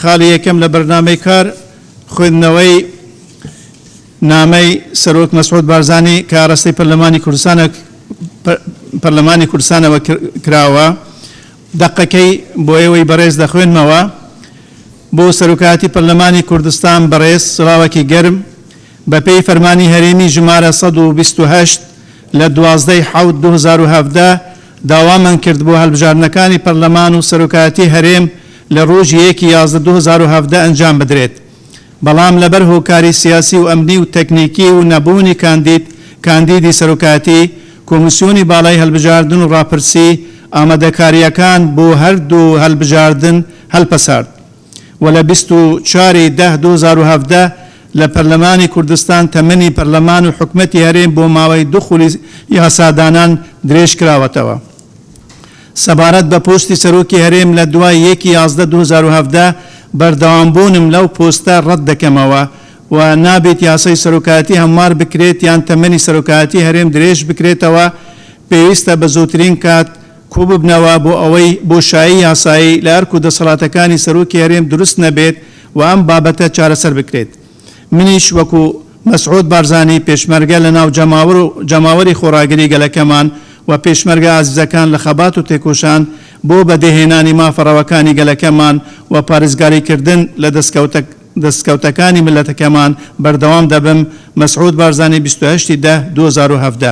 خاڵی یەکەم لە بەرنامەی کار خوێندنەوەی نامەی سەرۆک مەسعود بارزانی کە ئاراستەی پەرلەمانی کوردستانە پەرلەمانی کوردستانەوە کراوە دەقەکەی بۆ ئێوەی بەڕێز دەخوێنمەوە بۆ سەرۆکایەتی پەرلەمانی کوردستان بەڕێز سڵاوەکی گەرم بەپێی فەرمانی هەرێمی ژمارە 1970 لە 12 حوت 2017 داوامان کرد بۆ هەڵبژاردنەکانی پەرلەمان و سەرۆکایەتی هەرێم لە ڕۆژی یەکی یازدە دوو هەزار و هەڤدە ئەنجام بدرێت، بەڵام لەبەر هۆکاری سیاسی و ئەمنی و تەکنیکی و نەبوونی کاندید کاندیدی سەرۆکایەتی، کۆمیسیۆنی باڵای هەلبژاردن و ڕاپرسی ئامادەکارییەکان بۆ هەردوو هەلبژاردن هەلپەسارد. و لە بیست و چوار ی دە دوو هەزار و هەڤدە لە پەرلەمانی کوردستان تەمەنی پەرلەمان و حکومەتی هەرێم بۆ ماوەی دوو خولی یاسادانان درێژ کراوەتەوە. سەبارەت بە پۆستی سەرۆکی هەرێم لە دوای یەک ی یازدە دوو هەزار و هەڤدە بەردەوام بوونم لەو پۆستە ڕەت دەکەمەوە و نابیت یاسای سەرۆکایەتی هەموار بکرێت یان تەمەنی سەرۆکایەتی هەرێم درێژ بکرێتەوە پێویستە بە زووترین کات کۆببنەوە بۆ ئەوەی بۆشایی یاسایی لە ئەرک و دەسەڵاتەکانی سەرۆکی هەرێم دروست نەبێت و ئەم بابەتە چارەسەر بکرێت. منیش وەکو مەسعود بارزانی پێشمەرگە لە ناو جەماوەر و جەماوەری خۆڕاگری گەلەکەمان و پێشمەرگە ئازیزەکان لە خەبات و تێکۆشان بۆ بەدێهێنانی مافە ڕەواکانی گەلەکەمان و پارێزگاری کردن لە دەستکەوتە دەستکەوتەکانی میللەتەکەمان بەردەوام دەبم مەسعود بارزانی بیست و هەشت ی دە دوو هەزار و هەڤدە.